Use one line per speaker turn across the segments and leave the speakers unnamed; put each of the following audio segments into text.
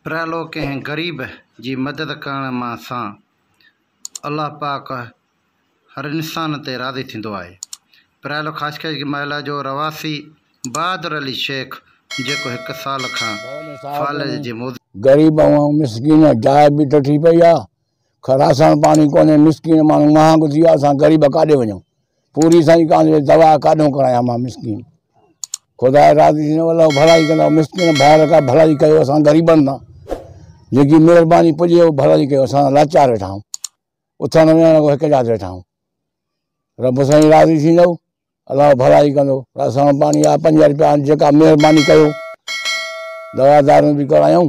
پريالو ڪنهن غريب جي مدد ڪرڻ مان سان الله پاڪ هر انسان تي راضي ٿيندو آهي. پريالو خاص ڪري جي محله جو رهواسي بهادر علي شيخ جيڪو هڪ سال کان فالج جي موضوع. غريب ۽
مسڪين جاء به ڊٺي پئي آ خراسان پاڻي ڪونهي مسڪين ماڻهو مها گذي آ اسان غريب ڪاڏي وڃون پوري سائين ڪان دوا ڪاڏون ڪرايا مان مسڪين خدا راضي ٿينو الله ڀلائي ڪندا مسڪين ڀائر کا ڀلائي ڪيو اسان غريبن سان جيڪي مهرباني پڄي ڀلائي ڪيو اسان لاچار ويٺا آهيون اٿڻ ويهڻ کو هڪ جات ويٺا آهيون رب سائين راضي ٿيندو الله ڀلائي ڪندو اسان پاڻي آ پنج روپيا جيڪا مهرباني ڪيو دوا دارون به ڪرايون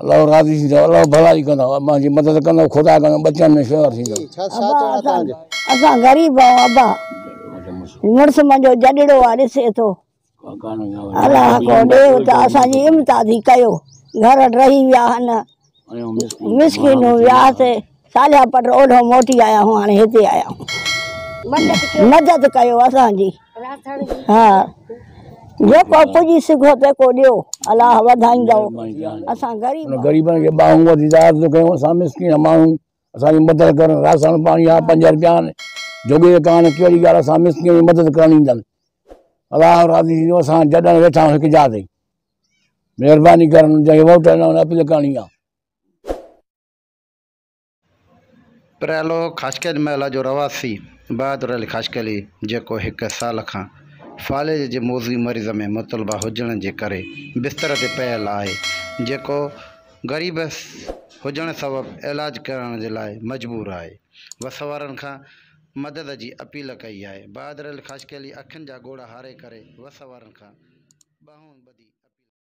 الله راضي ٿيندو الله ڀلائي ڪندو مان جي مدد ڪندو خدا ڪندو ٻچن ۾ شيوا ٿيندو
اسان غريب آهيون ابا مڙس منهنجو جڏڙو آ ڏسي ٿو الله کو ڏي ته اسان جي امدادي ڪيو گهر رهي ويا هن مسڪين ويا سي صالحه پٽ اولهو موٽي آيا هون هاڻي هتي آيا هون مدد ڪيو اسان جي ها جيڪو پڄي سگهو تيڪو ڏيو الله وڌائيندو اسان غريب غريبن کي
ٻانهون وڌي داد ٿو ڪيون اسان مسڪين ماڻهو اسان جي مدد ڪرن راسڻ پاڻي آ پنج رپيا آن جوڳي ڪان ڪهڙي ڳالهه اسان مسڪين جي مدد ڪرڻ ايندن الله راضي ٿيندو اسان جڏن ويٺا آهيون هڪ جاء تي مهرباني ڪرن جنهن ووٽ ڏنا ان اپيل ڪرڻي آ
پريالو خاشقلي محله جو رهواسي بهادر علي خاشقلي جيڪو هڪ سال کان فالج جي موضوعي مرض ۾ مطلبه هجڻ جي ڪري بستر تي پيل آهي جيڪو غريب هجڻ سبب علاج ڪرائڻ جي لاء مجبور آهي وس وارن کان مدد جي اپيل ڪئي آهي بهادر علي خاشقلي اکين جا ڳوڙها هاري ڪري وس وارن کان ٻانهون ٻڌي اپيل ڪئي آهي.